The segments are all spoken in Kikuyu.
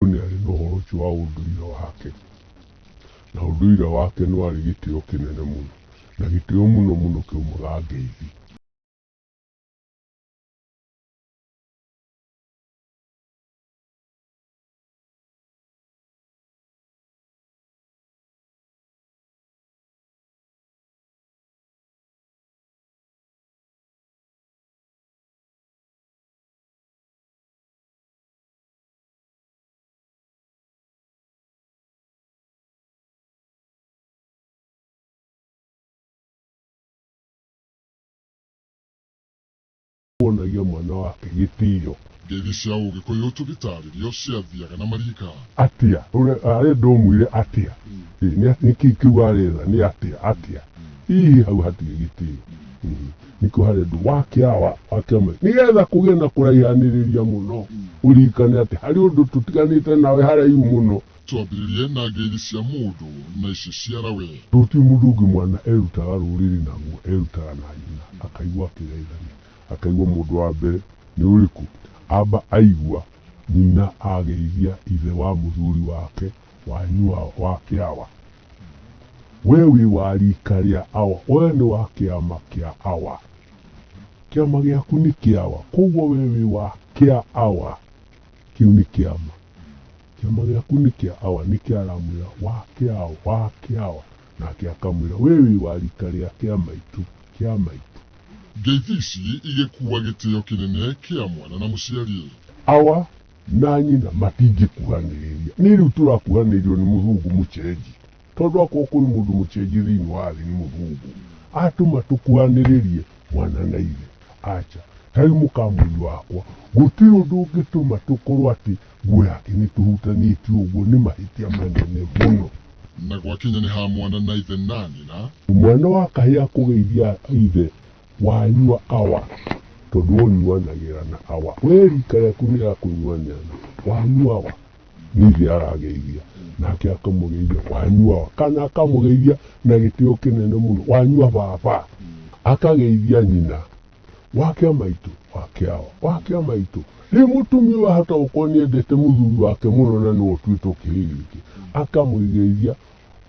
Mũndũ nĩ arĩ na ũhoro ũcio wa ũndũire wake, na ũndũire wake nĩ warĩ gĩtĩo kĩnene mũno, na gĩtĩo mũno mũno kĩaumaga Ngeithi. wonagia mwana wake gĩtĩo ngeithi cia ũgĩkũyũ tũgĩtarĩrio ciathiaga na marika atia Ũrĩa- arĩa ndomwire atia Ĩ, nĩ- nĩkĩ kiuga arĩra nĩ atia atia hihi hau hatirĩ gĩtĩo Mhm. nä kä o harä andå wa kä awa wa kä ama nä getha kå gä na kå raihanä rä ria må no å ririkane atä harä å ndå tå tiganä te nawe haraihu må no Twambĩrĩrie na ngeithi cia mũndũ na ici ciara we. Rũciũ mũndũ ũngĩ mwana erutaga rũrĩrĩ naguo erutaga na nyina akaigua akĩgeithania akaigua mũndũ wa mbere nĩ ũrĩkũ amba aigua nyina ageithia ithe wa mũthuri wake wanyu wa, wa kĩawa we wĩ wa rika rĩa awa we nĩ wa kĩama kĩa awa kĩama gĩaku nĩ kĩawa koguo we wĩ wa kĩa awa kĩu nĩ kĩama kĩama gĩaku nĩ kĩa awa nĩ kĩaramwĩra wa kĩawa wa kĩawa nake akamwĩra we wĩ wa rika rĩa kĩa maitũ kĩa maitũ Ngeithi ici igĩkuua gĩtĩo kĩnene kĩa mwana na mũciari. awa na nyina matingĩkuhanĩrĩria nĩ rĩu tũrakuhanĩrĩrio nĩ mũthungu mũcenji tondũ akorwo kwĩ mũndũ mũcenji thĩinĩ wa thĩ nĩ mũthungu atũma tũkuhanĩrĩrie mwana na ithe aca ta rĩu mũkamũri wakwa gũtirĩ ũndũ ũngĩtũma tũkorwo atĩ nguo yake nĩ tũhutanĩtie ũguo nĩ mahĩtia manene mũno Na gwakinya nĩ ha mwana na ithe na nyina, mwana wa kahĩa kũgeithia ithe wanyua awa tondũ ũnyuanagĩra na awa we rika rĩaku nĩ rĩa kũnyuanĩra na wanyua awa nithe arageithia nake akamũgeithia wanyua awa kana akamũgeithia na gĩtĩo kĩnene mũno wanyua baba akageithia nyina wake maitũ wake awa wake maitũ rĩu mũtumia ũyũ ahota gũkorwo nĩ endete mũthuri wake mũno na nĩ ũtuĩte ũkĩhĩgĩke akamũgeithia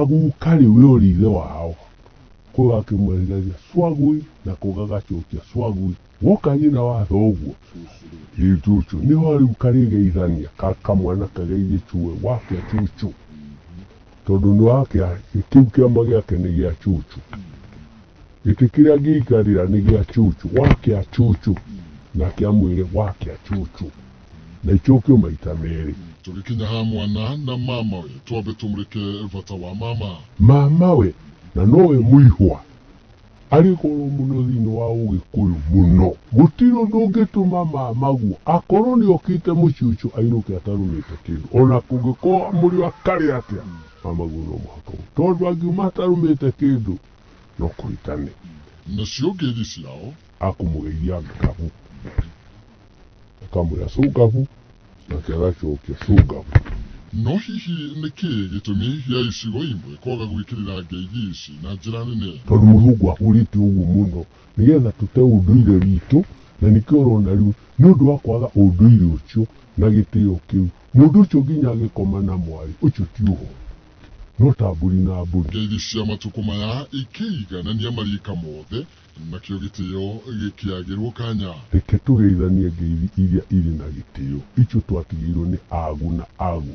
Agũkari ũrĩa ũrĩ ithe wao kũga akĩmwehereria swagui na kũga gacokia swagui woka nyina wa thoguo rĩu cucu nĩho rĩu karĩgeithania ka kamwana kageithie cue wake cucu tondũ nĩ wake kĩu kĩama gĩake nĩ gĩa cucu gĩtĩ kĩrĩa ngĩikarĩra nĩ gĩa cucu wake cucu nake amwĩre wake cucu na ĩkĩũkio maita merĩ. Tũgĩkinya ha mwana na mamawe, twambe tũmũrĩke bata wa mama. Mamawe, na nowe mũihwa, arĩ goro mũno thĩinĩ wa Ũgĩkũyũ mũno. Mũtino ndũngĩtũma mamaguo akorwo nĩ okĩte mũciĩ ũcio ainũke atarũmĩte kĩndũ, o na kũngĩkorwo mũrĩ o akarĩ atĩa, mamaguo no mũhaka ũguo, tondũ angiuma atarũmĩte kĩndũ no kũhĩtania. Nacio ngeithi ciao. Akũmũgeithia ng'aragu. ũkamwĩra cungabu nake agacokia cungabu No hihi nĩ kĩĩ gĩtũmi gĩa icigo imwe kwaga gwĩkĩrĩra ngeithi ici na njĩra nene? tondũ mũthungu ahũrĩte ũguo mũno nĩgetha tũte ũndũire witũ na nĩkĩo ũrona rĩu nĩ ũndũ wa kwaga ũndũire ũcio na gĩtĩo kĩu mũndũ ũcio nginya agĩkoma na mwarĩ ũcio ti ũhoro no ta mbũri na mbũri Ngeithi cia matukũ maya ikĩiganania mariika mothe Nakĩo gĩtĩo gĩkĩagĩrwo kanya. Reke tũgeithanie ngeithi iria irĩ na gĩtĩo, ithuĩ twatigĩirwo nĩ agu na agu.